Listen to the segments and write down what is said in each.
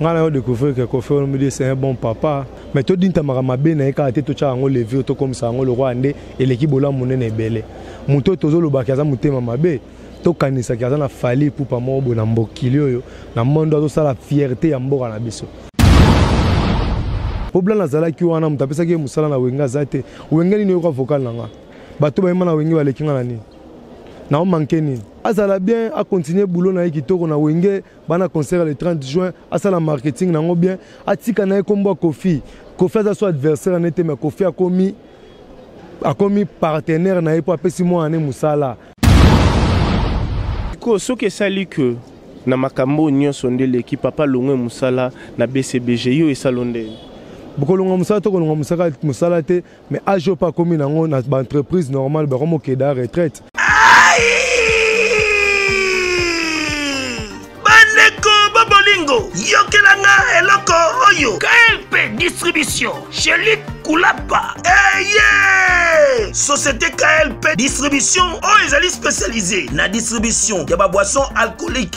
ngai nayo découvrir que kofi olomide c'est un bon papa mais todintamaka mabe na ye kaka te totyaka yango levire tokomisa yango lokola nde eleki bolamu monene ebele moto oyo tozolobaki aza motema mabe tokanisaki aza na fali pupa moko boye na mbokili oyo na mondo azosala fierte ya mboka na biso mpo blana azalaki wana moto apesaki ye mosala na wenge aza te wenge nini oyoka vocal na nga bato bayemba na wenge baleki nga na nini naomanke nini azala bien a continuer boulot na ye kitoko na wenge bana concert le 30 juin asala marketing na yango bien atika na ye kombo ya kofi kofi aza so adversaire na ye te mais kofi akomi akomi partenaire na ye mpo apesi mwana ne mosala sikoyo soki esali ke na makambo oyo nyonso nde eleki papa longwe mosala na bcbg yo esalo nde bokolonga mosala to kolonga mosala te Mais age pas komi nango na ba entreprise normale ba komo keda retraite. Bandeko bobolingo yokela nga eloko oyo KLP distribution chez Luc Kulapa. Hey, eh, yeah! Société KLP distribution oyo ezali spécialisée na distribution ya ba boissons alcooliques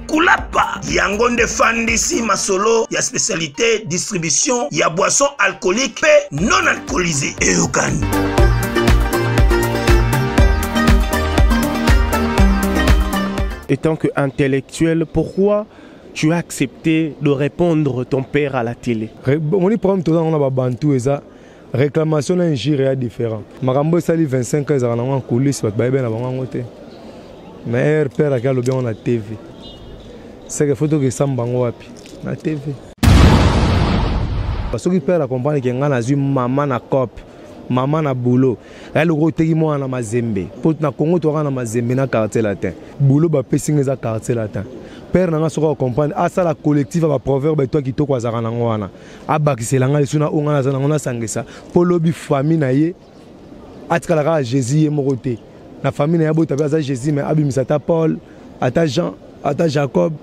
kulapa yango nde fandisi masolo ya specialité distribution ya boisson alcoolique mpe non alcoolisé eyokani étant que intellectuel pourquoi tu as accepté de répondre ton père à la télé omoni problème toza yango na babantu eza Reclamation na injure ya different. Makambo esali 25 ans ezalaka nango en coulisse bato bayebi na bango yango te. Mais air père ake alobi yango na TV. Seke faut tokesamba yango wapi? Na TV. Soki père akomprendre ke ngai nazwi mama na cope mama na boulot ya loko oteki mwana na mazembe mpo na congo toyaka na mazembe na quartier latin boulot bapesi ngai eza quartier latin père na ngai soki akomprendre asala collectif ya baproverbe etwa kitoko azalaka nango wana abakisela ngai lisu na oyo ngai naza nango nasangisa mpo lobi famille na ye atikala kaka jésus ye moko te na famille na ye abota mpe aza jésus mai abimisa ata paul ata jean ata jacob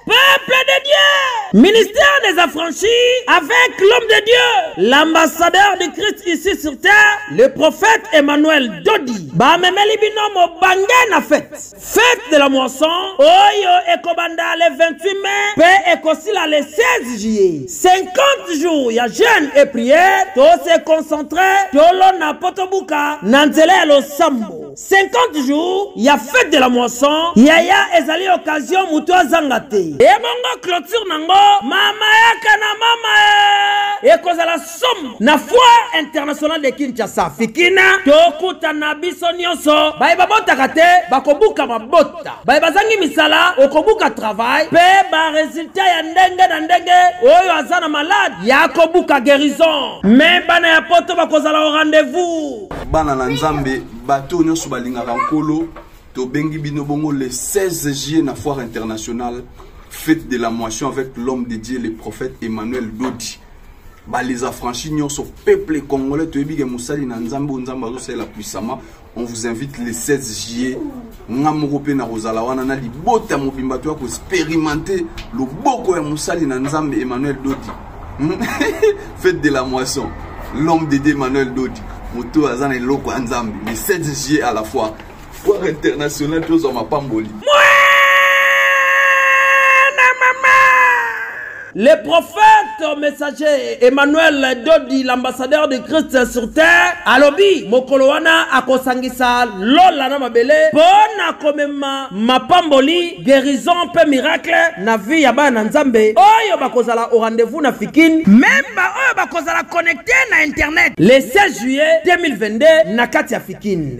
peuple de dieu ministère des affranchis avec l'homme de dieu l'ambassadeur du christ ici sur terre le prophète emmanuel dodi bamemeli bino mobange na fete Fete de la moisson oyo ekobanda le 28 mai mpe ekosila le 16 juillet 50 jours ya jeune et prière tose concentre tolona mpo tobuka na nzela ya losambo 50 jours ya fete de la moisson yaya ezali occasion moto azanga te ebongo clôture nango mama yaka na mama ekozala somo na foire internationale de kinshasa fikina tokuta na biso nyonso baye babotaka te bakobuka mabota baye bazangi misala okobuka travail mpe baresultat ya ndenge na ndenge oyo aza na malade ya kobuka guérison me bana ya poto bakozala o rendez-vous bana na nzambe bato oyo nyonso balingaka nkolo tobengi bino bongo le 16 juillet na foire internationale fête de la moisson avec l'homme de dieu le prophète emmanuel dodi ba les affranchis nyonso peuple congolais toyebi ke mosali na nzambe oyo nzambe azosalela puissamment on vous invite le 16 juillet nga moko mpe nakozala wana na libota mobimba toya koexperimente loboko ya mosali na nzambe emmanuel dodi hmm? fete de la moisson l'homme de dieu emmanuel dodi moto aza na eloko ya nzambe le 16 juillet à la fois foire internationale tozwa mapamboli Le prophète messager Emmanuel Dodi, l'ambassadeur de Christ sur terre, alobi mokolo wana akosangisa lola na mabele mpo na komema mapamboli guérison mpe miracle na vie ya bana na Nzambe oyo bakozala au rendez-vous na Fikin, meme baoyo bakozala connecte na internet le 16 juillet 2022 na kati ya Fikin.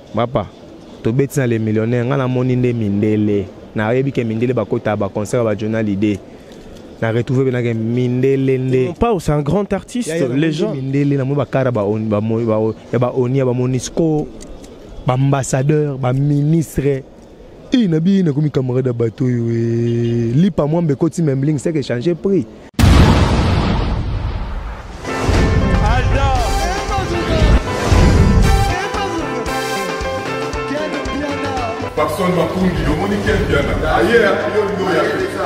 Papa, tobeti na le millionnaire, nga namoni nde mindele. Nayebi ke mindele bakota ba concert ba Jonah Lide. Na retrouver benake mindele nde. Mon pao c'est un grand artiste, ya, ya, les gens. Mindele na mo bakara ba on ba mo ba ya ba onia ba monisco, ba ambassadeur, ba ministre. Ii na bi na komi camarade ya bato oyo eh, lipa mwambe koti membling seke changer prix Papson Makundi, yo moni ken biana. Aye, yo ndo ya pesa.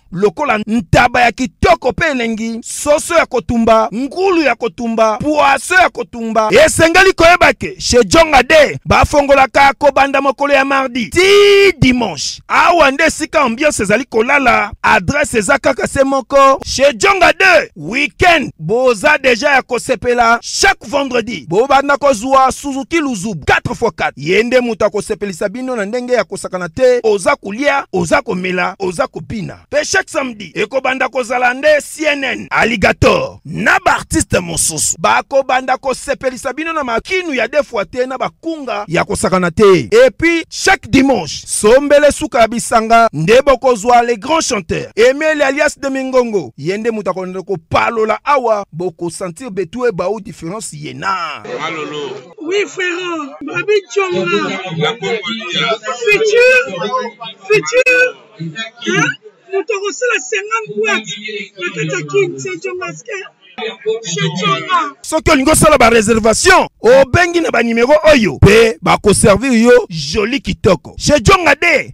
lokola ntaba ya kitoko mpe elengi, soso ya kotumba, ngulu ya kotumba, pwaso ya kotumba. Esengeli koyeba ke chez Jonga de bafongolaka kobanda mokolo ya mardi ti dimanche. Awa nde esika ambiance ezali kolala, adresse eza kaka se moko chez Jonga de. weekend boza deja ya kosepela chaque vendredi bobanda kozwa suzuki luzubu 4x4 ye nde moto akosepelisa bino na ndenge ya kosakana te oza kolia oza komela oza kobina mpe chaque samedi ekobanda kozala nde cnn alligator na baartiste mosusu bakobanda kosepelisa bino na makinu ya defwa te na bakunga ya kosakana te epuis chaque dimanche sombele suka ya bisanga nde bokozwa le grand chanteur emeli alias de mingongo Ye nde moto akolanda kopalola awa bokosentir betue bao difference ye na malolo oui frère babi conga futur futur moto akosala 50 boite na kati ya kin se congaske soki olingi osala bareservation obengi na banimero oyo mpe bakoservir yo joli kitoko shejonga de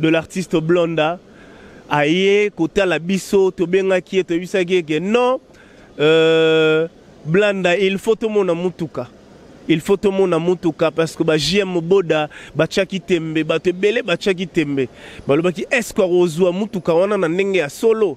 de l'artiste Blonda aye kotala biso tobengaki ye toyebisaki ye ke non euh, Blanda il faut tomona mutuka il faut tomona mutuka parce que ba JM Moboda batiaki tembe bato ebele batiaki tembe balobaki est-ce que akozwa mutuka wana na ndenge ya solo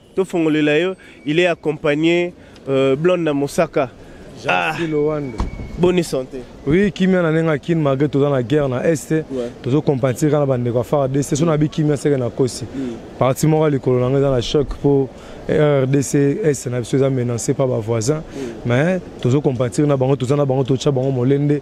To fongolela yo, il est accompagné euh, Blonde na Mosaka. Jean ah. Lowando. Bonne santé. Oui, kimia na nenga kin malgré toza na guerre na est. Ouais. Tozo compenser kana bande kwa fara de c'est son abi kimia seke na kosi. Mm. Parti moko likolo na ngeza na choc pour RDC est na biso eza menacé par ba voisins. Mm. Mais tozo compenser na bango toza na bango tocha bango molende.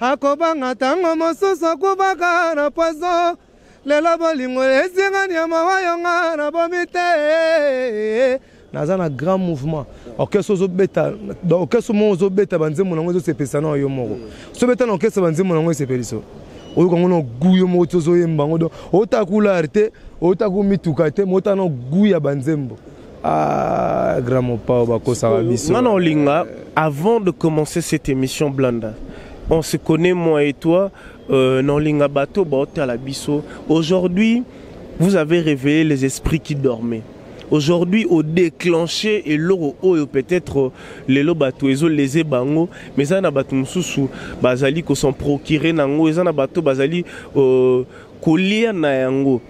akobanga ntango mosusu akubaka na poison lelo bolingo ezingani ya mawa yo nga na bomi te naza na grand mouvement orchestre ozobeta orchestre moko ozobeta banzembo nango ezosepelisa na yo moko so obeta na orchestre banzembo nango esepeliso oyoka ngo na gu yo moko ti ozoyemba ngo don otaka kulare te otaka mituka te ma otaka na gu ya banzembo Ah, grand mopao bakosaka biso. Ngana olinga avant de commencer cette émission Blanda. On se connaît moi et toi euh, na olinga bato baotala biso. Aujourd'hui, vous avez réveillé les esprits qui dormaient. Aujourd'hui, au déclenché et l'euro oyo peut-être les bato ezo les bango, mais ça na bato mususu bazali ko s'en procurer nango, ça na bato bazali euh, kolia na yango.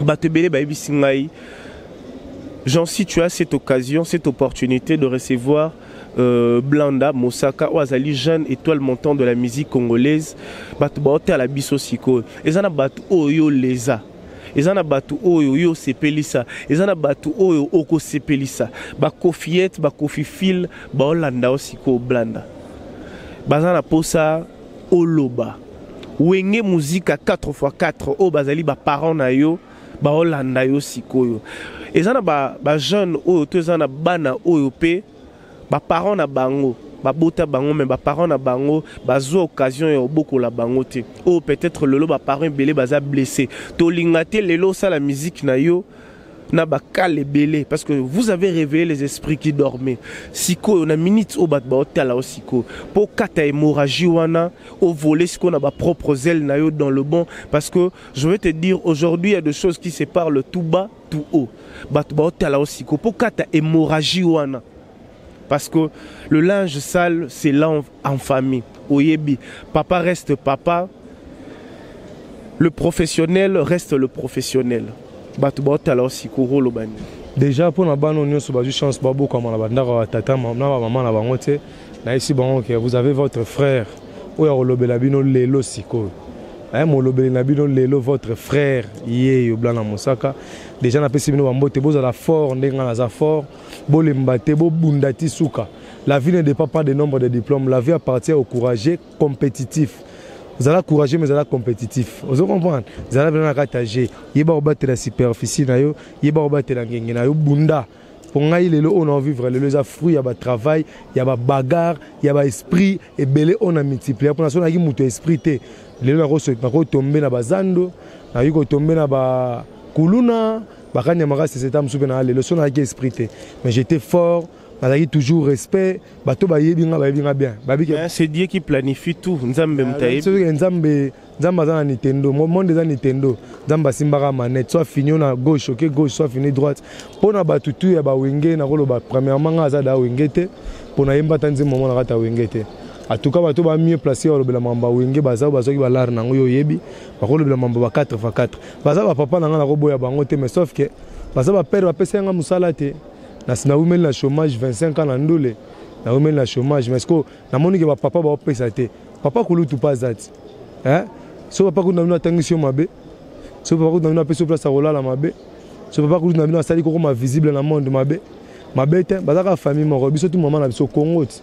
bato ebele bayebisi ngai jean si tu as cette occasion cette opportunité de recevoir euh, blanda mosaka oyo azali jeune étoile montant de la musique congolaise bato baotala biso sikoyo eza na bato oyo oleza eza na bato oyo yo osepelisa eza na bato oyo okosepelisa bakofiete bakofifile baolanda yo sikoyo blanda baza na mposa oloba wenge muzika 4 fois 4 oyo bazali baparent na yo baolanda yo sikoyo eza na bajeune ba oyo to eza na bana oyo mpe baparent na bango babota bango me baparent na bango bazwa occasion ya obokola bango te oyo peut-être lelo baparent ebele baza blesse tolinga te lelo osala miziki na yo na bakale ebele parce que vous avez réveillé les esprits qui dormaient sikoyo na minute oyo bato baotala yo sikoyo mpo okata hémorragie wana ovole sikoyo na bapropre zele na yo dans le bon parce que je vais te dire aujourd'hui ya de choses qui se parle tout bas tout haut bato baotala yo sikoyo mpo okata hémorragie wana parce que le linge sale c'est lave en famille oyebi papa reste papa le professionnel reste le professionnel bato baotala osikoro oloba nini déjà mpo na bana oyo nyonso bazwi chance babokama na bandako ya batata na bamama na bango te nayebisi bango ke vous avez votre frère oyo akolobela bino lelo sikoyo eh, molobeli na bino lelo votre frère yeyo blana mosaka déjà napesi bino bambote bozala fort ndenge ngai naza fort bolemba te bobunda ti suka la vie ne dépend pas de nombre de diplômes la vie appartient au courageux compétitif zala courageux mais zala compétitif ozo comprendre zala bena na kati ya jeu yeba kobatela superficie na yo yeba kobatela ngenge na yo bunda mpo ngai lelo oyo na vivre lelo eza fruit ya batravail ya babagarre ya baesprit ebele oyo na multiplier mpo na so nayaki moto ya esprit te lelo nakotombe na bazando nakoki kotombe na bakuluna bakanya makasi seta mosusu mpe na lelo so nayaki esprit te mais j'étais fort nazalaki toujours respect bato bayebi nga bayebi nga bien c'est dieu qui planifie tout nzambe ah, motayebi nzambe nzambe aza na nintendo monde eza nintendo nzambe asimbaka manette soit fini yo na gauche oke gauche soit fini droite mpo na bato tu ya bawenge nakoloba premièrement nga aza da wenge te mpo nayemba ata nzembo mona kata wenge te atuka bato ba mieux place balobela mambo ya wenge baza bazwaki balare na yango yo oyebi bakolobela mambo ba 4 fa 4 baza ba papa na nga na koboya bango te mais sauf que baza ba père bapesa nga musala te na na wumeli na chômage 25 ans na ndule na wumeli na chômage mais ko na moni ke ba papa ba pesa te papa kulutu pas zati hein so papa kulutu na bino atangisi yo mabe so papa kulutu na bino apesi yo place akolala mabe so papa kulutu na bino asali kokoma visible na monde mabe mabe te bazaka famille moko biso tu mama na biso kongo ti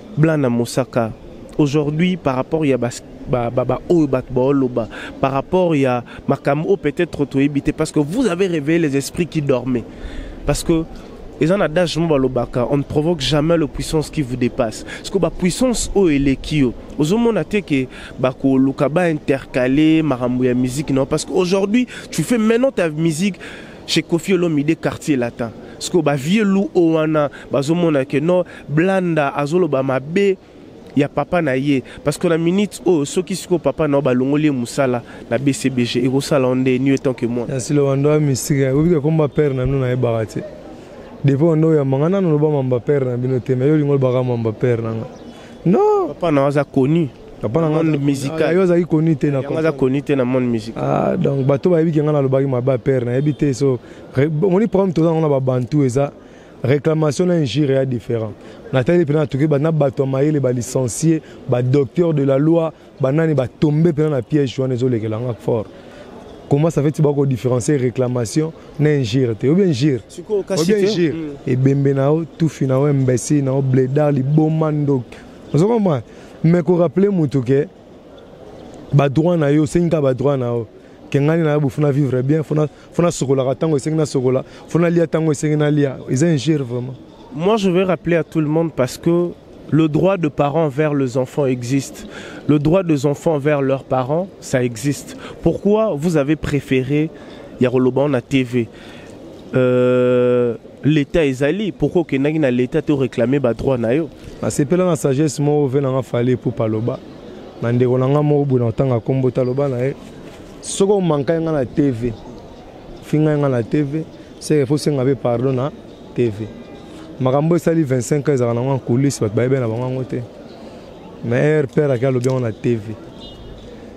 Blana Mosaka, aujourd'hui par rapport ya bas ba ba ba oyo bat baoloba par rapport ya makambo oyo peut-être toyebi te parce que vous avez réveillé les esprits qui dormaient parce que eza na adage moko balobaka on ne provoque jamais le puissance qui vous dépasse parceke bapuissance oyo eleki yo ozomona te ke bakoluka baintercale makambo ya musique nao parce que aujourd'hui tu fais maintenant ta musique chez Kofi Olomide quartier latin sikoyo ba vieux loup oyo wana bazomona ke no blanda azoloba mabe ya papa na ye parce que na minute oyo soki sikoyo papa na yo balongoli ye mosala na bcbg ekosala yo nde ni etant ke moi yasilo wando ya mystique oyebi ke komba père na bino nayebaka te depuis wando oyamba ngai nano loba mamba père na bino te me yo olingi olobaka mamba père na ngai non papa na yo aza connu papa na monde musical yo azali koni te na aza koni te na monde musical ah donc bato bayebi ke ngai nalobaki maba père nayebi te so omoni problème toza yango na babantu eza réclamation na injure ya différent natali mpena natoki na bato ya mayele balicencie badocteur de la loi banani batombe mpena na piège wana ezolekela nga fort comment ça fait ti bakodifferencie réclamation na injure te obi injure obi injure ebembe na yo tufi na yo imbécile na yo bledar liboma ndoki ozo comprendre mais ko rappeler mutu ke ba droit na yo osengi kaka ba droit na yo ke ngai na yo fona vivre bien fona fona sokolaka ntango esengi na sokola fona lia ntango esengi na lia eza injure vraiment moi je vais rappeler à tout le monde parce que le droit de parents vers les enfants existe. Le droit des enfants vers leurs parents, ça existe. Pourquoi vous avez préféré Yaroloban à TV Euh, l'état ezali pourquoi okendaki na l'état te oréclame badroit na yo nasepela na sagesse moko ve nanga fale epo paloba na ndeko na ngai moko boye na kotanga nkombo taloba na ye soki omankai ngai na tv fingai ngai na tv seke fo senga mpe pardon na tv makambo esali 25 ans ezalaka nango ankulise bato bayebi na bango yango te mais air père ake alobi yango na tv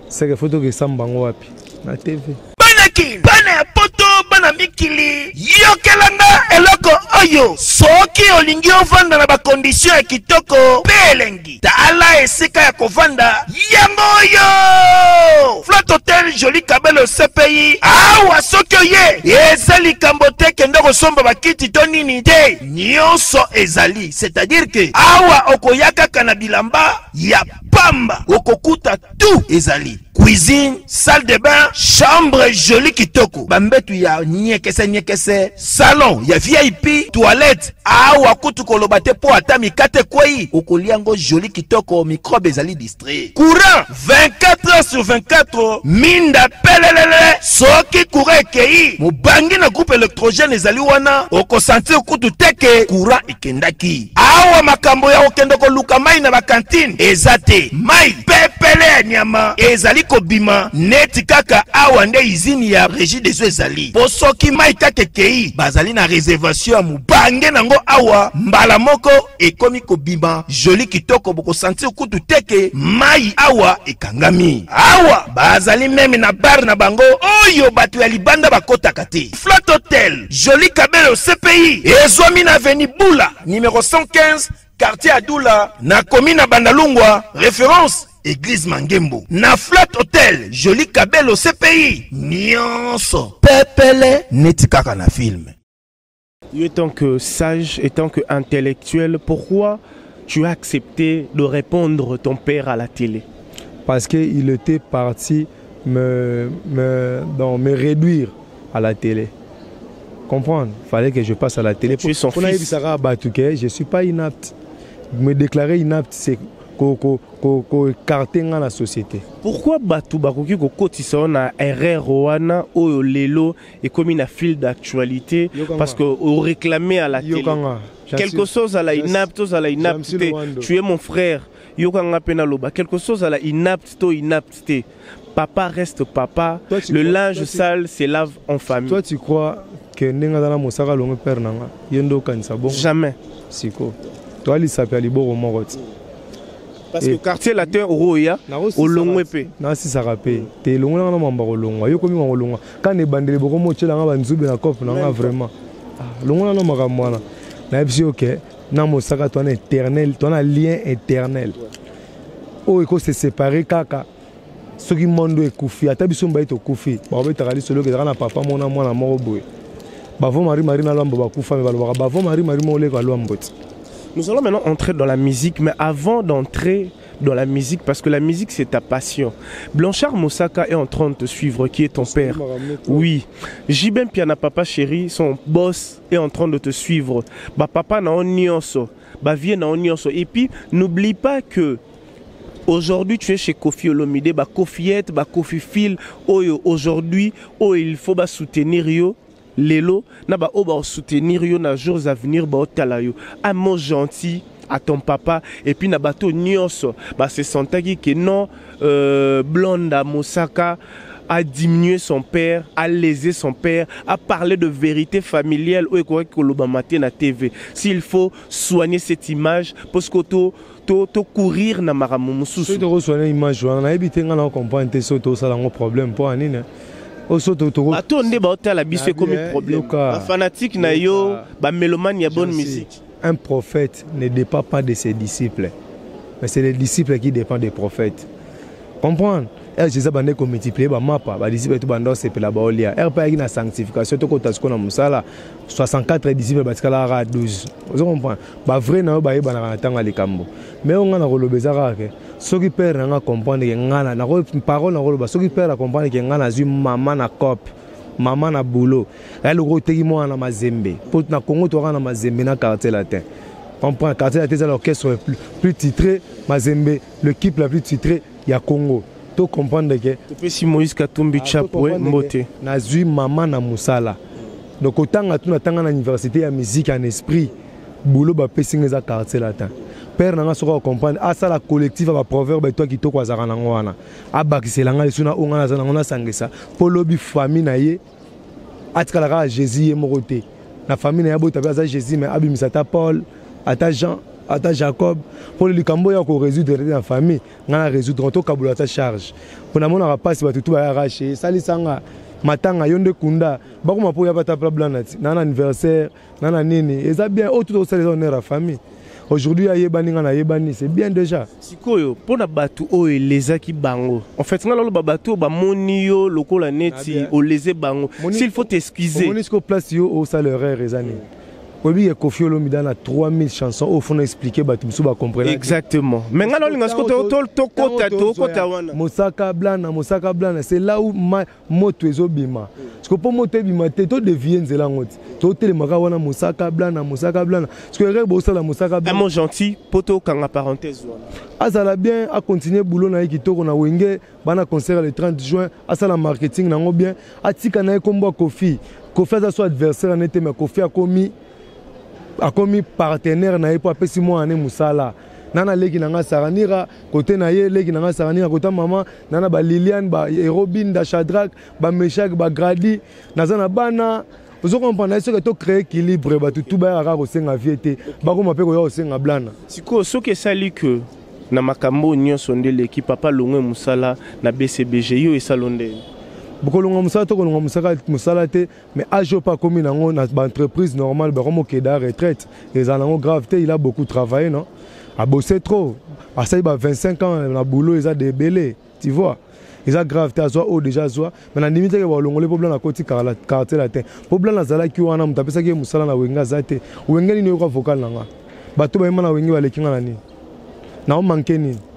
seke fo tokesamba yango wapi na tv bana kin bana ya poto bana mikili yokelanga eloko oyo soki olingi ovanda na bakondisio ya kitoko mpe elengi tala esika ya kovanda yango oyo flat hotel joli kabelo cpi awa soki oye eza likambo te kende kosomba bakiti to nini te nyonso ezali c'est-à-dire ke awa okoya kaka na bilamba ya pamba okokuta tout ezali cuisine salle de bain chambre jolie kitoko bambetu ya niekese niekese salon ya vip toilette awa kutu koloba te mpo ata mikate ekwei okolia yango jolie kitoko microbe ezali distrait courant 24 heures sur 24 minda pelelele soki courant ekei mobangi na groupe électrogène ezali wana okosentir kutu teke courant ekendaki Awa makambo ya kokende koluka mai na bakantine eza te. Mai pepele ya nyama ezali kobima neti kaka awa nde izini ya regi deso ezali mpo soki mai kaka ekei bazali na reservation ya mobange nango awa mbala moko ekomi kobima joli kitoko bokosantir kutu teke mai awa ekangami awa bazali meme na bare na bango oyo bato ya libanda bakotaka te Flat Hotel, Jolie Kabelo CPI, ezwami na avenue Bula, numéro 115, quartier Adoula, na commune ya Bandalungwa, référence Église Mangembo. Na Flat Hotel, Jolie Kabelo CPI, nyonso pepele neti kaka na film. Étant que sage, étant que intellectuel, pourquoi tu as accepté de répondre ton père à la télé Parce qu'il était parti me, me, donc, me réduire à la télé comprendre fallait que je passe à la télé pour nayebisaka bato que je suis pas inapte me déclarer inapte c'est koekarte ngai na société pourquoi bato bakoki kokotisa yo na erreur wana oyo lelo ekomi na fil d'actualité parce que oréclame à la télé quelque chose ala inapte ozala inapte te tu es mon frère yoka ngai mpe naloba quelque chose ala inapte to inapte te Papa reste papa. Toi, le crois, linge toi, sale se lave en famille. Toi, tu crois que ndenge aza na mosaka longue père na nga ye nde okanisa bongo jamais siko toa lisapi ya liboko moko ti parce que quartier latin oroya olongwe mpe nasisaka mpe te elongwe nanga na mamba kolongwa yo komima kolongwa kana ebandeli bokomi otyelanga banzube na cope na nga vraiment ah, longola na makambo wana nayebisi yo ke na mosaka to na éternel to na lien éternel oyo eko se séparer kaka soki mondo ekufi ata biso mbaye tokufi bakobetaka lisolo ezalaka na papa mona mwana moko boye bavo marie marie na lwambo bakufa me balobaka bavo marie marie moko oleka lwambo ti Nous allons maintenant entrer dans la musique, mais avant d'entrer dans la musique, parce que la musique c'est ta passion. Blanchard Moussaka est en train de te suivre, qui est ton père. Oui. Jibem Piana Papa Chéri, son boss est en train de te suivre. Ba papa na on nioso, ba vie na on nioso. Et puis n'oublie pas que Aujourd'hui, tu es chez Kofi Olomide, ba Kofiette, ba Kofi Phil, oyo aujourd'hui, oh il faut ba soutenir yo, lelo, na ba oba soutenir yo na jours à venir, ba otala yo. Un mot gentil, à ton papa et puis na bateau nioso bah se sentaki que non euh, Blonda Mosaka a diminué son père, a lésé son père, a parlé de vérité familiale ou quoi que le matin à TV. S'il faut soigner cette image, parce que tout to to courir na makambo mosusu soki tokosoana image wana nayebi te ngai na comprendre te soki tosala yango problème mpo ya nini bato nde baotala biso ekomi eh, problème bafanatike na yo bamelomane ya bonne musique Un prophète ne dépend pas de ses disciples, mais c'est les disciples qui dépendent des prophètes. Comprendre ere eh, jésus bande komultiplie bamapa badisiple to banda osepela baolia ere eh, mpe ayaki na sanctification tokota sikoyo na mosala 64 disciple batikala kaka 12 ozo comprendre bavrai na yo bayebanaka na ntango ya likambo mai oyo ngai nakoloba eza kaka ke soki pere na ngai acomprendre ke ngai parole nakoloba soki pere acomprendre ke ngai nazwi mama na cope mama na boulot ya loko oteki mwana na mazembe mpo na congo toyaka na mazembe na quartier latin on prend quartier latin eza l'orchestre plus, plus titré mazembe l'équipe la plus titré ya congo to comprendre ke topesi moïse katumbi ah, chapwe mbote nazwi mama na mosala donc otanga tu natanga na université ya musique en esprit boulot bapesi nga eza quartier latin père na nga soki acomprendre asala collectif ya baproverbe etwa kitoko azalaka nango wana abakisela ngai lisu na oyo ngai naza nango nasangisa mpo lobi famille na ye atikala kaka jésus ye moko te na famille na ye abota mpe aza jésus mai abimisa ata paul ata jean ata jacob mpo likambo oyo ya koresoudre te na famille ngai na resoudre tokabola ata charge mpo namonaka mpasi bato tu bayaka che esalisa nga matanga yo nde kunda bakoma mpo yaba ata pla blanati na na anniversaire na na nini eza bien oyo tout osala eza honneur ya famille aujourd'hui ayebani nga nayebani c'est bien déjà sikoyo mpo na bato oyo elezaki bango en fait nga naloba bato oyo bamoni yo lokola neti oleze bango s'il faut t'excuseomoni sikoyo place yo osala erreur eza nini oyebi ye kofi olomida na 3000 chanson oyo fona explike bato mosusu bacomprena exactement mais nga naolinga siko tokota tokota wana mosaka blana mosaka blana c'est là où moto ezobima siko mpo moto ebima te to devie nzela yango ti totelemaka wana mosaka blana mosaka blana siko erreur bosala mosaka blana gentil mpo tokanga parenthèse wana azala bien acontinue boulot na ye kitoko na wenge bana concert le 30 juin asala marketing nango bien atika na ye nkombo ya kofi kofi aza so adversaire na ye te mais kofi akomi akomi partenaire na ye mpo apesi mwana ne mosala nana leki na ngai saranira kote na ye leki na ngai saranira kota mama nana ba liliane ba erobin da shadrack ba meshak ba gradi naza na bana ozo comprendre soki to créer équilibre bato tu bayaka kaka kosenga vie te bakoma mpe koya kosenga blana sikoyo soki esali que na makambo oyo nyonso nde eleki papa longwe mosala na bcbg yo esalo nde bokolonga mosala to kolonga mosala te mais age pas akomi nango na ba entreprise normale bakomi okeda retraite ezala nango grave te il a beaucoup travaillé non abosse trop asali ba 25 ans na boulot eza de ebele tu vois eza grave te azwa oyo deja azwa me nandimi te ke balongoli mpo blana akoti quartier latin mpo blana azalaki wana moto apesaki ye mosala na wenge aza te wenge nini oyoka vocal na nga bato bayema na wenge baleki nga na nini naomanke nini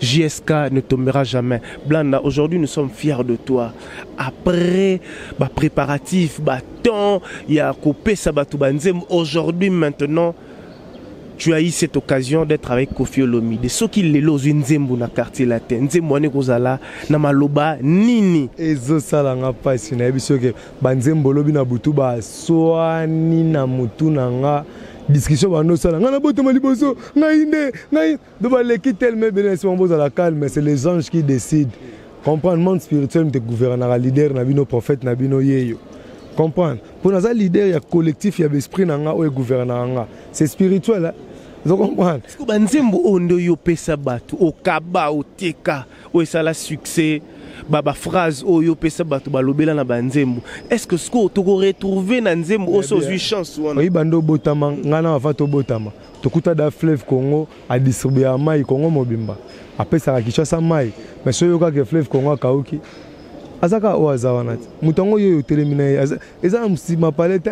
JSK ne tombera jamais. Blanda, aujourd'hui nous sommes fiers de toi. Après bah, préparatif, bah, temps, il y a coupé Sabatubanzem. Aujourd'hui, maintenant, tu as eu cette occasion d'être avec Kofi Olomide. Ce qui les lois Nzembo na quartier latin. Nzembo ane kozala na maloba nini. Ezo sala nga pasi na biso ke banzembo lobi na butu ba swani na mutu na nga discussion bando sala nga na botama liboso nga inde nga Donc baleki tellement ebele na nsima bozala calme, c'est les anges qui décident. Comprendre monde spirituel mte gouvernera leader na bino prophète na bino yeyo. Comprendre. Mpo naza leader ya collectif ya besprit na nga oyo gouvernera nga. C'est spirituel. Hein? Vous comprenez Parce que banzembo ondo yo pesa batu okaba oteka oyo esala succès ba ba phrase oyo pesa batu balobela na banzembo. Est-ce que ce que tu retrouver na nzembo oso zui chance wana? Oui bando botama ngana avant to botama. tokuta da fleuve congo adistribuaka mai congo mobimba apesaka kinshasa mai mais soki oyokaka fleuve congo akauki aza kaka oyo aza wana te moto yango yo otelemi na ye eza na mosima pale te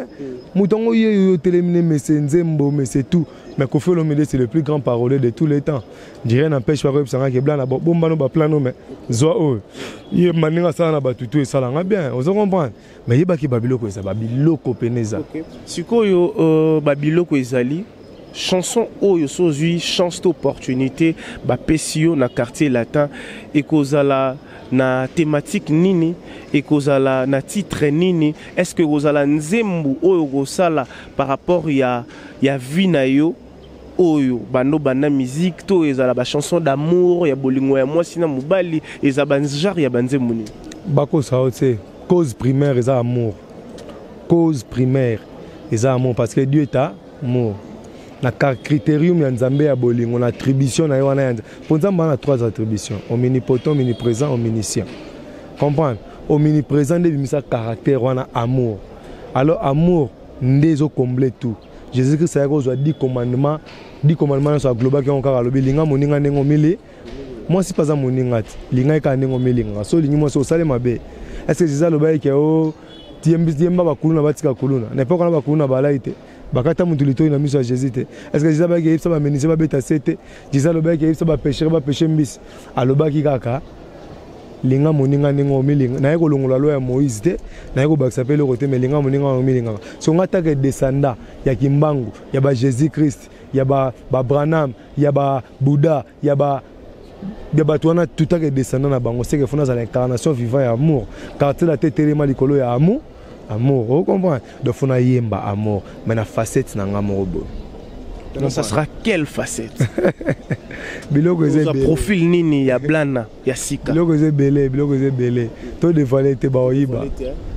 moto yango yo yo otelemi na mese nzembo mese tout mais kofi olomide c'est le plus grand parolier de tous les temps dirait n'empêche pas koyebisa ngaki eblana bombano baplano mais zwa oyo ye maninga asala na bato tout esalanga bien ozo comprendre mais yeba ke babiloko eza babiloko pene eza okay. sikoyo uh, babiloko ezali chanson oyo so ozwi chance to opportunité bapesi yo na quartier latin ekozala na thématique nini ekozala na titre nini est ce que ekozala nzembo oyo okosala par rapport ya, ya vie na yo oyo bando banda musique to ezala ba chanson d'amour ya bolingo ya mwasi na mobali eza ba genre ya banzembo nini bakosa yo te cause primaire eza amour cause primaire eza amour parce que dieu est amour na criterium ya nzambe ya bolingo na attribution na ye wana ya nzambe mpo nzambe wana na trois attribution ominipotent ominiprésent ominiscient comprendre ominiprésent nde ebimisa caractère wana amour alors amour nde ezokomble tout jesus christ ayaki kozwa di commandement di commandement nyonso aglobaki yango kaka alobi linga moninga ndenge omili mwasi mpe aza moninga te linga ye kaka ndenge omilingaka so olingi mwasi osali mabe estce jesus alobaki ke o yemba bakuluna batika kuluna na epoka na bakuluna balai te bakata motu litoi na miso ya jésus te estce jesus alobaki eyebisa bamenise babeta se te jesus alobaki eyebisa bapeshere bapeshe mbisi alobaki kaka linga moninga ndenge omilinga naye kolongola loi ya moïse te naye kobakisa mpe eloko te me linga moninga oyo omilingaka so nga ataka edesanda ya kimbangu ya ba jésus christ ya ba, ba branham ya ba bouddha ya ba ya bato wana tutaka edesanda na bango seke fo nazala incarnation vivant ya amour quartier la te telema likolo ya amour amour o comprendre donc fo nayemba amour mais na facette na nga moko boye Donc ça sera quelle facette biloko eza ebele profil nini ya blana ya sika biloko eza ebele biloko eza ebele to dévoiler te baoyiba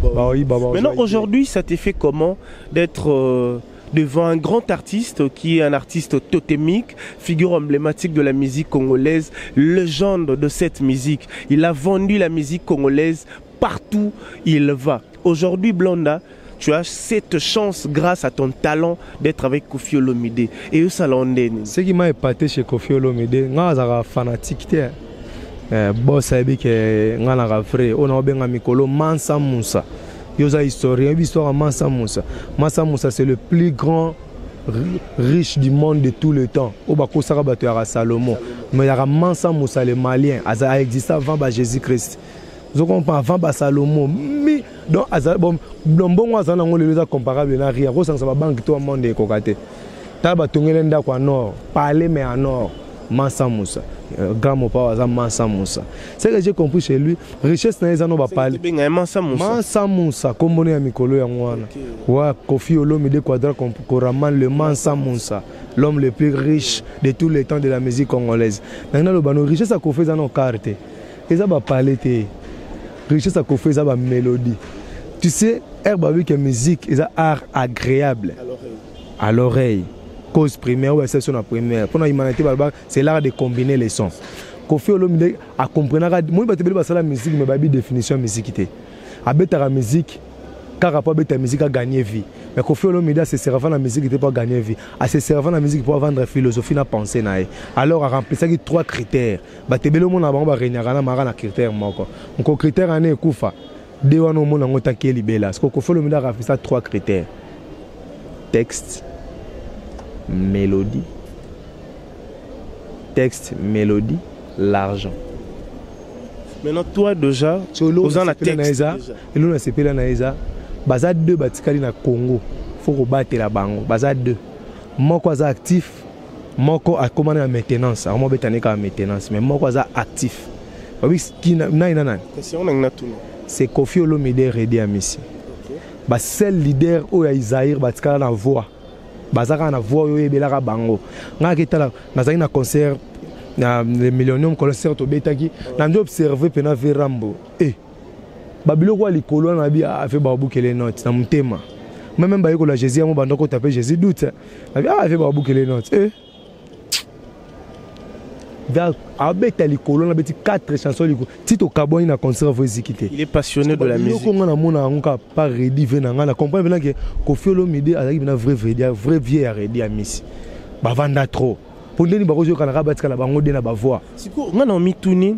baoyiba maintenant aujourd'hui ça te fait comment d'être euh, devant un grand artiste qui est un artiste totémique, figure emblématique de la musique congolaise, légende de cette musique. Il a vendu la musique congolaise partout il va. Aujourd'hui, Blonda, tu as cette chance grâce à ton talent d'être avec Kofi Olomide. Et eux, ça l'a Ce qui m'a épaté chez Kofi Olomide, moi, je fanatique. Hein. Eh, boss ayebi ke ngai naka vrai oyo naobenga mikolo mansa musa yo oza historien oyebi histoire ya mansa musa mansa musa c'est le plus grand riche du monde de tout le temps oyo bakosaka bato yaka salomon mais yaka mansa musa le malien aza existe avant ba jésus christ ozo comprendre avant ba Salomon mi donc azali bon mbongo azali nango lelo eza comparable na rien akosangisa ba banque to monde ekoka te tala batongele ndako ya nord palais mais ya nord mansa musa euh, grand mopao aza mansa musa ce que j'ai compris chez lui richesse na ye eza no bapale mansa musa nkombo ne ya mikolo yango wana okay. wa kofi olomide quadra koraman le mansa musa l'homme le plus riche de tous les temps de la musique congolaise nangi naloba no richesse ya kofi eza na okar te eza ba palais te richesse ya kofi eza ba melodie tu sais air babi que musique eza art agréable à l'oreille cause primaire ou exception na primaire mpona humanité balobaka c'est l'art de combiner les sons kofi olomide akomprenaka moi bato ebele basala musique mais bayebi définition ya musique te abetaka musique kaka mpo abeta musique agagner vie mais kofi olomide aseserava na musique te mpo agagner vie aseserava na musique mpo avandre philosophie na pensée na ye alors aremplisaki trois critères bato ebele omona bango baregnaka na maka na critère moko nko critère ane ekufa de wana omona yango take libela siko kofolo mida akafisa trois critères texte mélodie texte mélodie l'argent maintenant toi déjà oza na texte elona asepela na eza baza deux batikali na congo fo kobatela bango baza deux moko aza actif moko akoma na maintenance akoma obeta ne kaka maintenance mais moko aza actif oyebi kina nani na nani c'est kofi olomide redi amisi basel leader oyo ya isaire batikala na voix baza kaka na voix oyo oyebelaka bango ngai aketala nazalaki na concert na le millionnium concert tobetaki na nde observe mpena verambo e eh. babiloko ya likolo wana nabi afe ah, babukele note na motema me meme bayekola jésus yango banda kota mpe jésus doute nabi ah, afe babukele note e eh. abeta likolo na beti 4 chanson likolo ti tokabwani na concert vo eziki te yoko ngai namona yango kaka pa redi ve na ngai na comprendre mpena ke kofi olomide azalaki mpena vrai vredi vrai vie ya redi ya misi bavanda trop mpo ndeni bakozoyokanaka batikala bango de na bavoi sikoyo ngai na omituni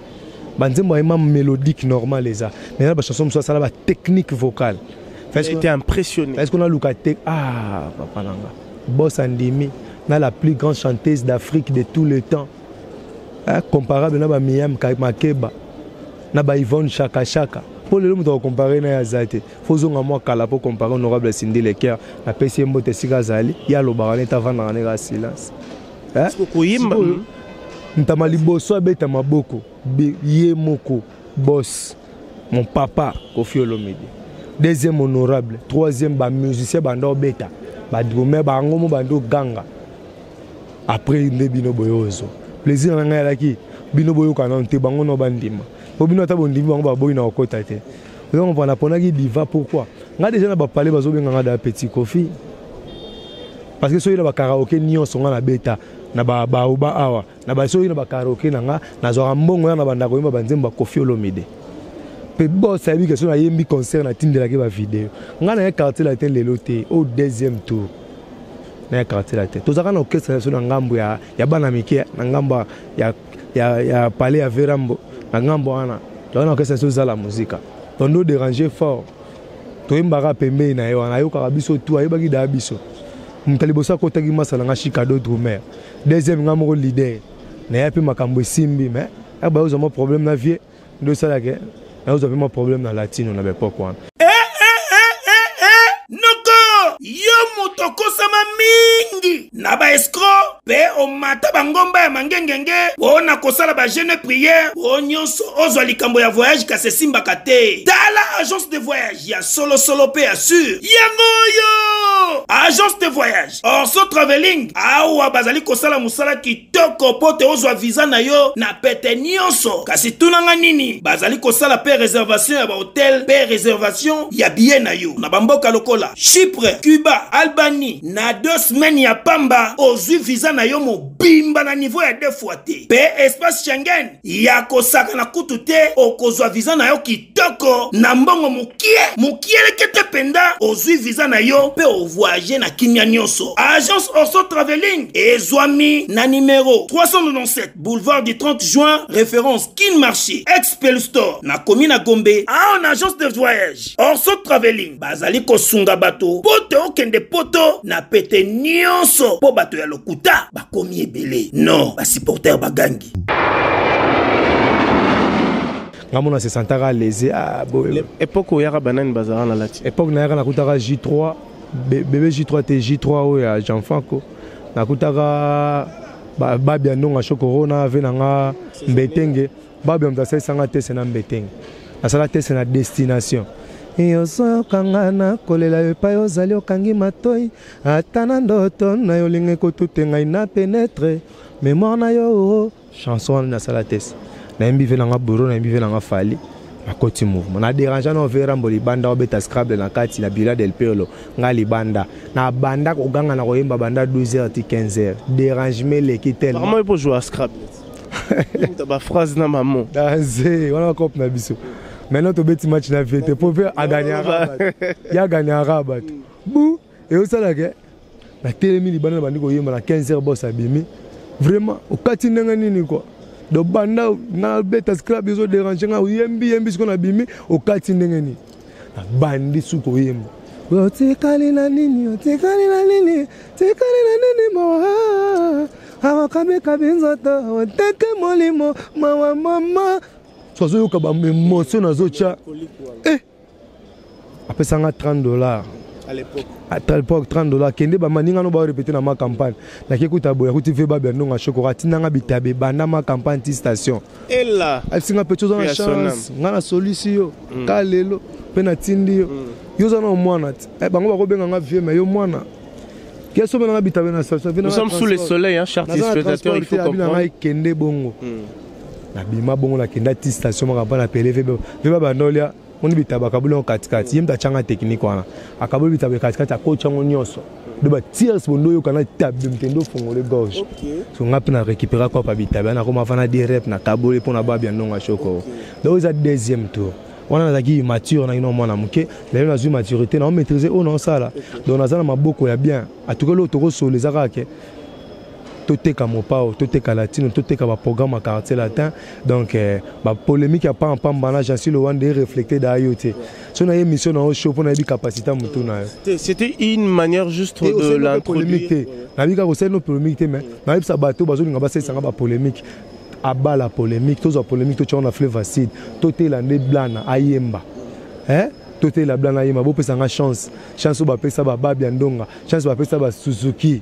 banzembo ayema mélodique normal eza mais na bachanson mosusu asala batechnique vocale été impressionné est ce qu'on a luka te ah papa nanga bos andimi na la plus grande chanteuse d'afrique de tout le temps eh, comparable na bamiam makeba na baivone shakashaka mpo lelo moto akokompare na ye aza te fo ozonga mwa kala mpo kompare honorable sindi leker napesi ye mbote esika azali ye alobaka nete avandaka nde kaka silence eh? siko koyemba hmm. ntama liboso abeta maboko ye moko boss mon papa kofi olomide deuxième honorable troisième bamusicien banda obeta badrome bango mo banda oganga après nde bino boye ozo plaisir na ngai alaki bino boyokana te bango no bandima po bino ata bondimi bango baboyi na kokota te Oza comprendre na ponaki diva pourquoi? Nga déjà na ba palais bazo benga nga da petit Kofi. Parce que soki na ba karaoke nyonso nga na beta na ba baoba awa na ba soki na ba karaoke na nga nazwaka mbongo ya na banda koyemba banzembo ya Kofi Olomide. Pe boss ayebi ke so na yembi concert na tindelaki ba video. Nga na ye quartier latin lelo te au deuxième tour. Na ye quartier latin. Tozaka na orchestre na biso na ngambo ya ya bana mike na ngambo ya ya, ya palais ya verambo na ngambo wana toyana okesa so zala muzika tondo déranger fort toyembaka pembeni na ye wana ayokaka biso tu ayebaki daa biso moto ya liboso akotaki masa na nga chicado drumer deuxième nga moko leader na ya mpe makambo esimbi mais abayozwa mwa problème na vie ndo esala ke nazwa mpe mwa problème na latino na baepoke wana eh, eh, eh, noko yo moto okosama mingi na baescro mpe omata bangomba ya mangengenge mpo na kosala bajeune priere mpo nyonso ozwa likambo ya voyage kasi esimbaka te tala agence de voyage ya solosolo mpe ya sur yango oyo agence de voyage orso traveling awa bazali kosala mosala toko mpo te ozwa viza na yo na pete nyonso kasi tuna nga nini bazali kosala mpe reservation ya bahotel mpe reservation ya biye na yo na bamboka lokola chypre cuba albanie na deux semaine ya pamba ozwi viza na yo mobimba na niveau ya deux fois te mpe espace schengen ya kosakana kutu te okozwa viza na yo kitoko na mbongo mokie mokielekete mpenza ozwi viza na yo mpe ovoyage na kimya nyonso agence orso traveling ezwami na nimero 397 boulevard du 30 juin référence kin marché expel store na komi na gombe awa na agence de voyage orso traveling bazali kosunga bato mpo te okende poto na pete nyonso mpo bato ya lokuta bakomi ebele non basupporter bagangi nga mona se sentaka alese ah, boye epoque oyaka banani bazalaka na lati epoque nayaka nakutaka j3 bebe j3 te j3 oyo ya jean franco nakutaka babi ya ndonga shokoro na ave na nga mbetenge babi ya moto asalisanga tese na mbetenge nasala tese na destination yosokanga na kolela yo epai ozali okangi matoi ata na ndoto na yo olingi kotuta ngai na penetre memoire na yo oh, oh. chanson wana nasala test nayembi ve nanga boro nayembi ve nanga fali nakoti mouvement na dérange na ovie rambo libanda obeta scrable na kati na bila del perlo nga libanda na banda koganga na koyemba banda 12 heures ti 15 heures dérangement eleki tellement epo joue scrable ba phrase na maman danze wana bakope na biso maintenant tobeti match na vie te po pe aganyaka ye aganyaka bato bu Eosala ke na telemi libanda na bandi koyemba na 15 heures boss abimi. Vraiment okati ndenge nini quoi? Donc banda na beta scrap ezo déranger nga oyembi yembi siko na bimi okati ndenge nini? Na bandi su koyemba. Otikali na nini? Otikali na nini? Otikali na nini mawa? Awakabikabi nzoto oteke molimo mawa mama. Sozoyoka ba emotion nazotia. Eh. apesa nga 30 dollars à l'époque à l'époque 30 dollars kende ba maninga no ba répéter na ma campagne na ke kuta boya kuti veba bia ndonga shokora tina nga bitabe banda ma campagne ti station ella asinga pe chozo na chance nga na solution yo mm. ka lelo pe na tindi yo mm. yo za na mwana eh bango ba ko benga nga vieux mais yo mwana Quels sont les Nous sommes sous le soleil, hein, chers téléspectateurs, il faut comprendre. Kende Bongo. Hmm. nabima bongo nakenda ti station maka mpa na pele veba veba bandolia moni bitaba akaboli yango katikati ye moto atyanga teknike wana akaboli bitaba katikati akoti yango nyonso do batirs bondo oyoka na tabe mtende ofongole gorge so nga mpe na récupéra kopa bitaba yana akoma fana de rep na kaboli mpo na babi ya ndongo ya shoko donc eza deuxième tour wana nazalaki immature na kino mwana moke lelo nazwi maturité na omaîtrise oyo naosala donc naza na maboko ya bien atukeli oyo tokosolo eza kaka ke toteka mopao toteka latino toteka baprogramme ya quartier latin donc eh, bapolémike ya pamba pamba na jansi lowande ereflecte da yo te so na ye émission na yo show mpo nayebi capacité ya motu na yo c'était une manière juste de l'introduire te nayebi kaka osali no polémique te mais nayebisa bato bazolinga basalisanga bapolémike abala polémique tozwa polémique totyaka na fleuve acide totela nde blana ayemba eh? totela blana ayemba bopesa nga chance chance oyo bapesa bababi ya ndonga chance bapesa basuzuki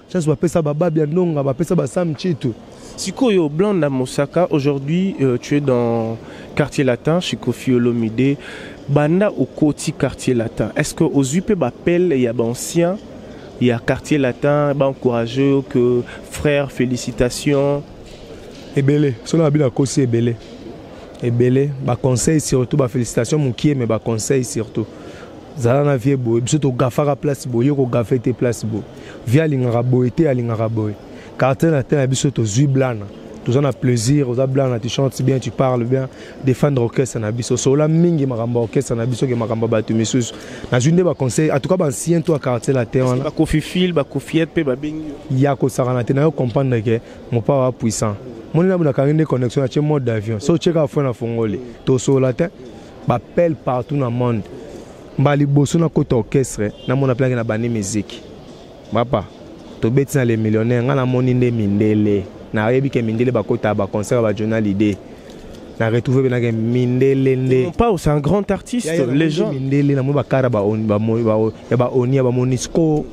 Chance bapesa ba Babia Ndonga, bapesa ba Sam Chitu. Sikoyo Blanc na Mosaka, aujourd'hui euh, tu es dans quartier latin chez Kofi Olomide. Banda okoti quartier latin, est-ce que ozwi mpe bapele ya baancien ya quartier latin baencourage yo que frère félicitations ebele soki na babino akosi ebele ebele baconseil surtout bafélicitation mokie mais baconseil surtout zala na vie boye biso togafaka place boye yo kogafe te place boye vie alingaka boye te alingaka boye quartier na te na biso tozwi blana toza na plaisir oza blana tu chantes bien tu parles bien défendre orchestre na biso solola mingi makambo ya orchestre na biso ke makambo ya bato misusu nazwi nde baconseil en tout cas bancien to ya quartier latin wana bakofi fil bakofiete mpe babengi ya kosakana te nayo comprendre ke mopao ya puissant moni nabu nakangi nde connexion atie mode d'avion so otie kaka fo na fongoli tosolola te bapele partout na monde mbala liboso nakota orchestre namona mpe nake na bandi miziki papa tobeti na le millionnaire ngai namoni nde mindele nayebi ke mindele bakotaka baconcert ya bajournal idee na retrouve mpe nake mindele nde pao c'est un grand artiste légend mindele namoni bakara ya baonia bamonisco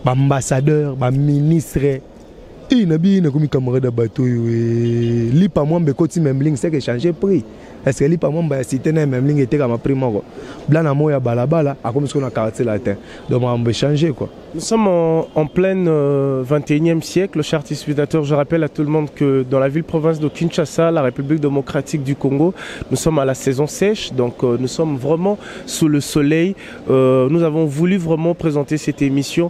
baambassadeur baministre Ii na bi na komi camarade ya bato oyo eh, lipa mwamba ekoti memling seke echange prix est-ce que lipa mwamba ya cité na memling etekama prix moko bla na moya balabala akomi siko na quartier latin donc makambo echange quoi Nous sommes en, en plein euh, 21e siècle, chers spectateurs. Je rappelle à tout le monde que dans la ville-province de Kinshasa, la République démocratique du Congo, nous sommes à la saison sèche, donc euh, nous sommes vraiment sous le soleil. Euh, nous avons voulu vraiment présenter cette émission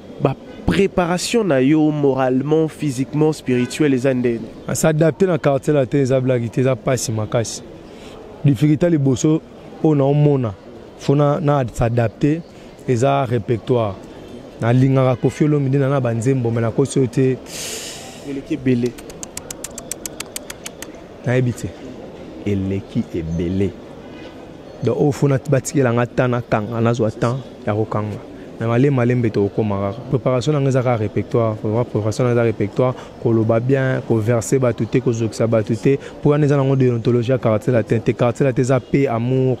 ba préparation na yo moralement physiquement spirituel eza ndeni ah, s'adapter na quartier latin eza blague te eza pasi makasi difficulté liboso oyo na omona fo na, na s'adapter eza répertoire nalingaka kofi olomi nde na na banzembo me nakosi oyo te eleki ebele nayebi te eleki ebele donc oyo fona batikela nga temps nakanga nazwa temps ya kokanga na malema malembe tokokoma kaka préparation nanga eza kaka répertoire préparation nanga eza répertoire koloba bien koverse bato te kozokisa bato te mpo wana eza nango déontologie ya quartier latin te quartier latin eza paix amour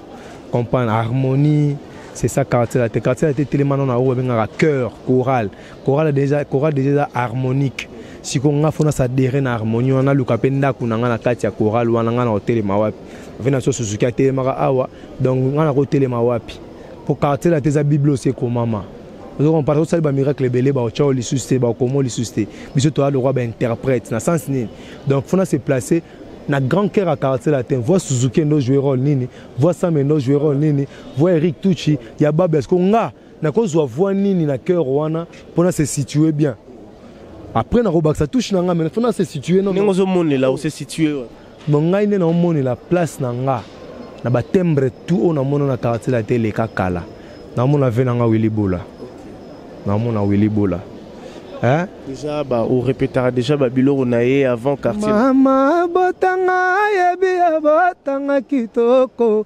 comprendre harmonie c'est ça quartier latin quartier latin etelemana na oyo babengaka cœur chorale chorale déjà chorale déjà eza harmonique sikoyo nga fona sadere na harmonie wana naluka mpe ndako na nga na kati ya chorale wana nga na kotelema wapi ve na so suzuki atelemaka awa donc nga na kotelema wapi mpo quartier na te eza biblos ekomama ozokompare osali bamiracle ebele baotya oyo lisusu te baokoma oyo lisusu te biso toya lokwa bainterprète na sens nini donc fona se place na grand cœur ya quartier latin voi suzuki endo joue role nini voi sam endo joue role nini voi eric tuchi ya babes ko nga nakozwa voix nini na cœur wana pona se situer bien après nakobakisa touche na nga mais pona se situer non ndenge ozomonela ose situer wana no ngai nde naomonela place na nga na batembre tout oyo namona na quartier la te eleka kala namona ve na nga wili bola namona wili bola Hein? Déjà, bah, on répétera déjà bah, Biloro Naye avant quartier. Maman, botanga, yebi, botanga kitoko.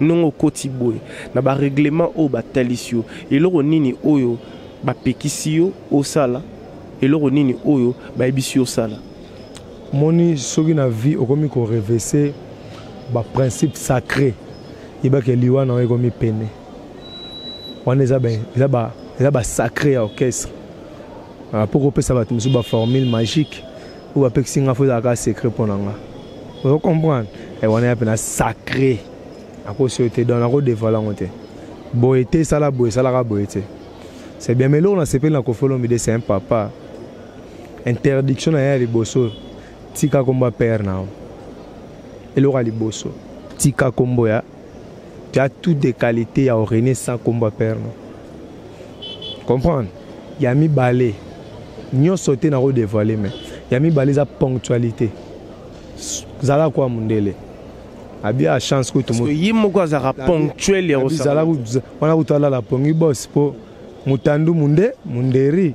ndenge okoti boye na bareglement oyo batalisi yo eloko nini oyo bapekisi yo osala eloko nini oyo bayebisi yo osala moni soki na vie okomi korevese baprincipe sacré yebaki liwa na yo ekomi pene wana eza basacré ya orchestre mpo ah, kopesa bato mosusu baformule magique oyo bapekisi nga fo ezalaka secret mpo na nga ozo comprendre eh, wana ya mpena sacré akosi oyo te donc nakodevoile yango te boye te esala boye esalaka boye te c'est bien mais eloko nasepeli na kofi olomide c'est un papa interdiction na ye ya liboso tika kombo ya père na yo eloko ya liboso tika kombo ya tu as toutes des qualités ya orene sans kombo ya père no comprendre ya mibale nyonso te nako dévoile mais ya mibale eza ponctualité zala kwa mundele abi a chance kutu ye moko azalaka ponctuel ya wana kutu alala pongi bos mpo mutandu munde munderi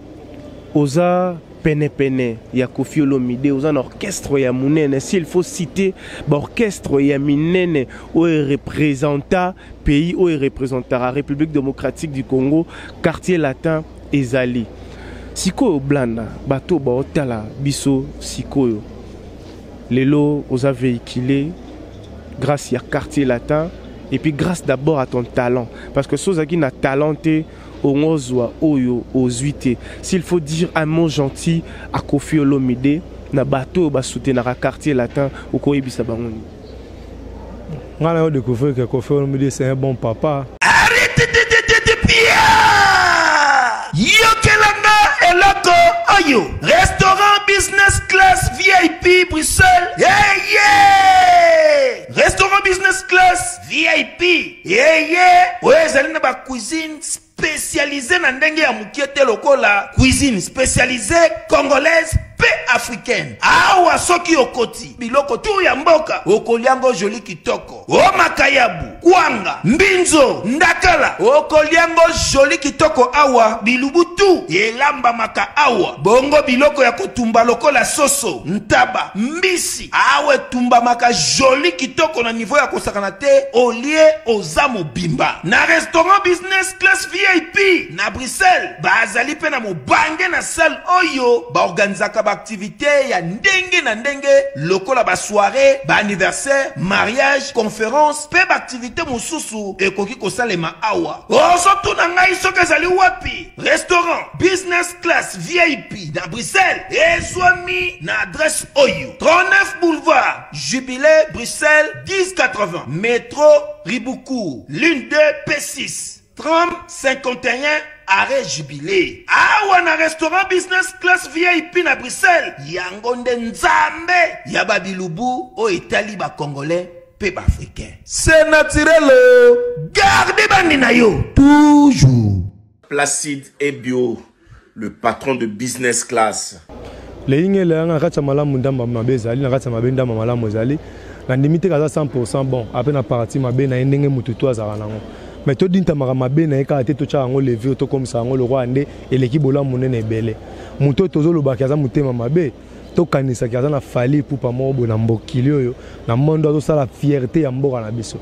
oza penepene ya kofi olomide oza na orchestre ya monene s'il faut citer baorchestre ya minene oyo erepresenta pays oyo erepresentaka république démocratique du congo quartier latin ezali sikoyo blanda bato baotala biso sikoyo lelo oza véhicule grâce ya quartier latin et puis grâce d'abord à ton talent parce que si ozalaki na talent te Ongozua oyo ozui te. S'il faut dire un mot gentil à Koffi Olomide na bato oyo ba soutenaka quartier latin okoyebisa bango nini? Nga na yo découvrir que Koffi Olomide c'est un bon papa. Yokelanga eloko oyo restaurant business class VIP Bruxelles. Yeah, yeah! Restaurant business class vip yeye oyo ezali na ba cuisine spécialisé na ndenge ya mokie te lokola cuisine spécialisé congolaise mpe africaine awa soki okoti biloko tu ya mboka okolia yango joli kitoko o makayabu kwanga mbinzo ndakala okolia yango joli kitoko awa bilubu tu elambamaka awa bongo biloko ya kotumba lokola soso ntaba mbisi Awa etumbamaka jolie kitoko na niveau ya kosakana te olie oza mobimba na restaurant business class vip na bruxelles bazali mpe na mobange na salle oyo baorganisaka baaktivite ya ndenge na ndenge lokola basoire baanniversaire mariage conference mpe baaktivite mosusu ekoki kosalema awa ozotuna ngai soki ezali wapi restaurant business class vip na bruxelles ezwami na adresse oyo 39 boulevard Jubilé Bruxelles 1080 métro Ribuku ligne 2 P6 tram 51 arrêt Jubilé awa na restaurant business class VIP na Bruxelles yango nde nzambe ya babilubu oyo etali bacongolais mpe baafricain se naturel garde bandi na yo toujours placide ebio Le patron de business class. Leyinga elaya nga na kati ya malamu ndamba mabe ezali, na kati ya mabe ndamba malamu ezali. Nandimi te kaza 100% bon, ape na partie mabe na ye ndenge mutu tout azalaka nango. Mais to dintamaka mabe na ye kaka te, totiaka yango levure, tokomisa yango lokola nde eleki bolamu munene ebele. Mutu oyo tozo loba ke aza mutema mabe, to kanisa ke aza na Fally Ipupa moko boye na mbokili oyo, na monde oyo azo sala fierte ya mboka na biso.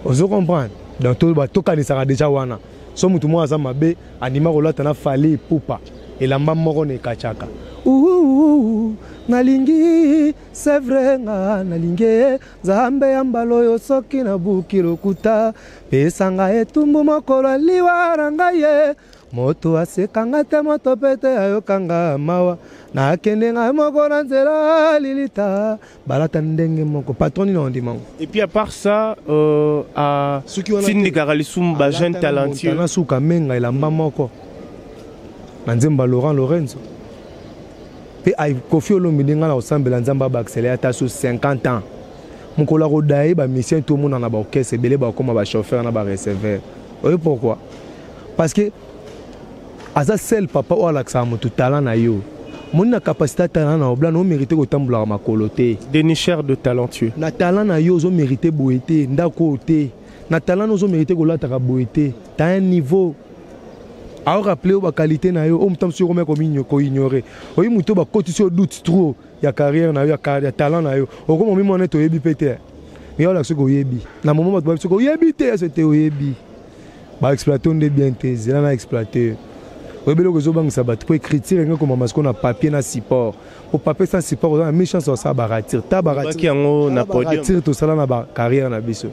Ozo comprendre? Donc to kanisaka dejà wana. Soki mutu moko aza mabe, Andima kolata na Fally Ipupa elamba moko na ekachaka. Ouhouhou nalingi c'est vrai nga nalingi Nzambe ya mbala oyo soki nabuki lokuta pesa nga etumbu mokolo ya liwa na ngai ye moto aseka nga te moto mpe te ayoka nga mawa nakende ngai moko na nzela lilita balata ndenge moko patron nini ondima ngo et puis à part ça euh, à tindikaka lisumu ba jeune talentueux na suka menga elamba moko na nzemba laurent lorenzo mpe kofi olomide ngai na kosambela nzambe abakisela ata so 50 ans mokolo akoda ye bamisien tomonana baorchestre ebele bakoma bachauffeur na bareceveur oye pourquoi parce que aza sel papa oyo alakisaka moto talent na yo moni na capacité ya talent na obla na omérite kotambolaka makolo te denicher de talentueux na talent na yo ozomérite boye te ndako oyo te na talent na ozomérite kolataka boye te ta un niveau aoraple yo baqualité na yo oyo moto mosusu okomya koignore oyi moto oyo bakotisi yo doute trop ya carrière na yo ya talent na yo okoma omimona ete oyebi mpe te yo olakisi koyebi na momo bato babisi koyebi te ese te oyebi ba exploiter nde bien te zela na exploiter oyebi eloko ezobangisa bato mpo écriture enge komama sikoyo na papier na support mpo papier sans support oza na mi chance osala baratire ta baratire tosala na bacarrière na biso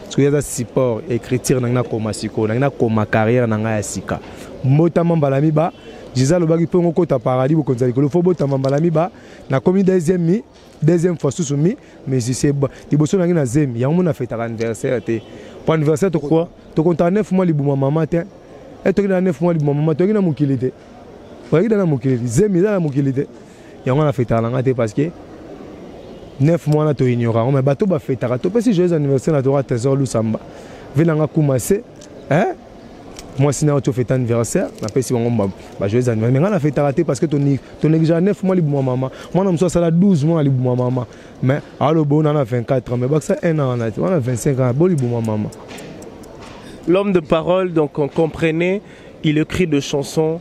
soki aza support écriture nangai nakoma sikoyo nangai nakoma carrière na ngai ya sika mbotama mbala miba jiza alobaki mpo ngokota paradis bokonzi ya likolo fo botama mbala miba nakomi deuxième mi deuxième fois susu mi musicien liboso nangi na zemi yango mona fetaka anniversaire te po anniversaire tokoa tokontaka 9 mois libuma mama te e toki na 9 mois libuma mama toki na mokili te oyaki da na mokili te zemi eza na mokili te yango na fetaka na nga te parce que 9 mois na toignora yango mai bato bafetaka topesi joyeux anniversaire na toka trésor lusamba vi na nga kuma se eh? mwasi na yo ti ofete anniversaire napesi bango bajoyes anniversaire me ngai nafetaka te parce que tonegligea 9 mois libuma mama mwana mosusu asala 12 mois na libuma mama mais aloba ona na 24 ans mais bakisa 1 an wana te wana 25 ans bo libuma mama l'homme de parole donc on comprenait il écrit de chansons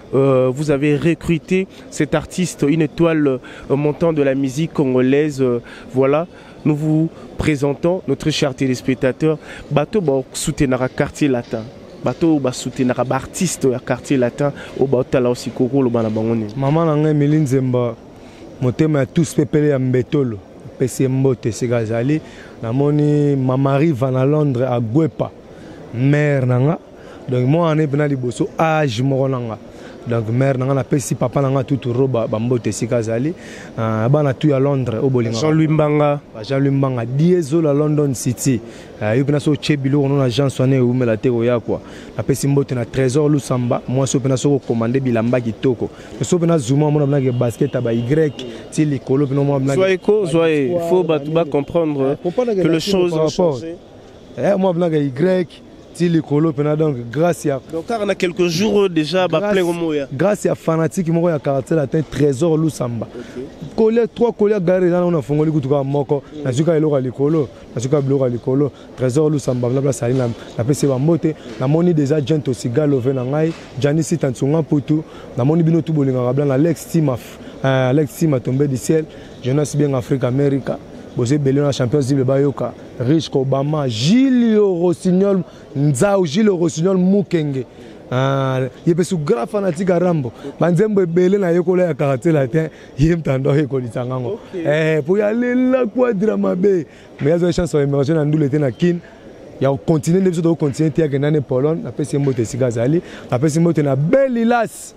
Euh, vous avez recruté cet artiste, une étoile euh, montant de la musique congolaise. Euh, voilà, nous vous présentons, notre cher téléspectateur, Bateau Bok soutenara quartier latin. Bateau ba soutenara artiste ya quartier latin au Bautala aussi Koko le Banabangoni. Maman Nanga Emeline Zemba, motema ya tous pepele ya mbetolo. Pesi mbote sika azali. Namoni Mamari Van à Londres à Guepa, mère Nanga. donc mwa wana mpena liboso age moko na nga donc mare na nga napesi papa na nga tutu roba bambote esika azali ah, bana tu ya londres oyo bolinga jean louis mbanga ah, jean louis mbanga diezola london city ah, yo mpena soki otye biloko no na agence wana ewumela te koya kua napesi mbote na trésor lusamba mwasi oyo mpena soki okomande bilamba kitoko soki mpena zuma omona binake basket ya bay ti likolo mpena omona binake zwa eko zwa e fo bato bacomprendre que le chose en changé eh, moi blanc y ti likolo mpena donc grâce ya donc kaka na quelques jours déjà baplain omoya grâce ya fanatique moko ya quartier latin trésor lusamba kolia trois kolia galere eza nango nafongoli kutu kaka moko nazwi kaka eloko ya likolo nazwi kaka biloko ya likolo trésor lusamba na place ali napesi bambote namoni déjà jent osigalove na ngai janisi tansunga mputu namoni bino tu bolingaka bla na lex timaf euh, alex tima tombe du ciel Jonas Bienga Africa America boza ebele na champions libre bayoka riche obama gilio rossignol nzau gilio rossignol mukenge ah, ye mpe su grand fanatique ya rambo banzembo ebele nayekola ya quartier latin ye mtando ayekolisa ngango eh, mpo ya lela quadra mabe mais azwa chance ya emerge na ndule te na kin ya kocontinue nde biso tokocontinue te yake nani pologne napesi ye mbote esika azali napesi mbote na belilas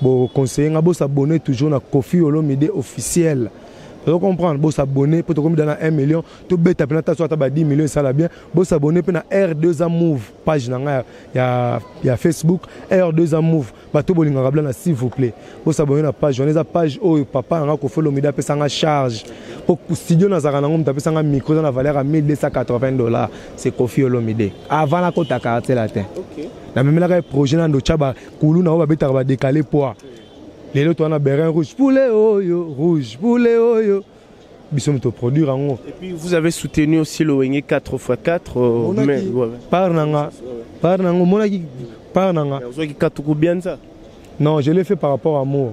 Bo conseiller nga bo s'abonner toujours na Kofi Olomide officiel. Vous comprenez, vous s'abonnez, pour comme dans 1 million, tout bête après ta soit 10 millions ça la bien. Vous s'abonnez pour R2A Move page na nga ya ya Facebook R2A Move. Ba to bolinga kabla na s'il vous plaît. Vous s'abonnez na page, on est à page oh papa nga ko follow mida pesa nga charge. Pour studio na zaka na ngom ta pesa nga micro na valeur à 1280 dollars. C'est Kofi Olomide. Avant la kota quartier latin. OK. Na memelaka projet na ndo chaba kuluna oyo babetaka badekale poa lelo toa na berin rouge poulet oyo rouge poulet oyo biso moto produire yango et puis vous avez soutenu aussi le wenge 4 x 4 euh, mais ouais. par nanga par nanga omonaki par nanga ozwaki katuku bianza non je l'ai fait par rapport à moi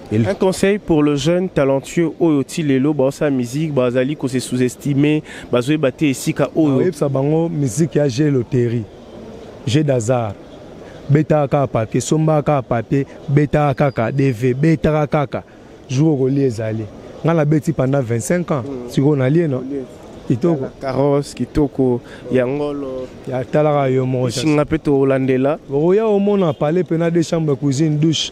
Un conseil pour le jeune talentueux oyo ti lelo baosa musique bazali ko se sous-estimer bazoyeba te esika oyo oyebisa bango musique ya jeu loterie jeu d'hasard betaka kaka papier sombaka kaka papier betaka kaka dv betaka kaka jour okolia ezali ngai nabeti pendant 25 ans mm. sikoyo nalie no kitoko carrosse kitoko ya ngolo ya talaka yo moko singa mpe tolandela okoya omona palais mpe na deux chambre cuisine douche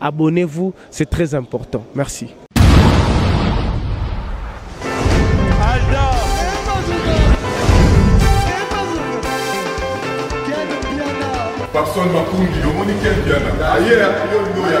Abonnez-vous, c'est très important. Merci. Papson Makundi, omoni ken piana aye yo ndo ya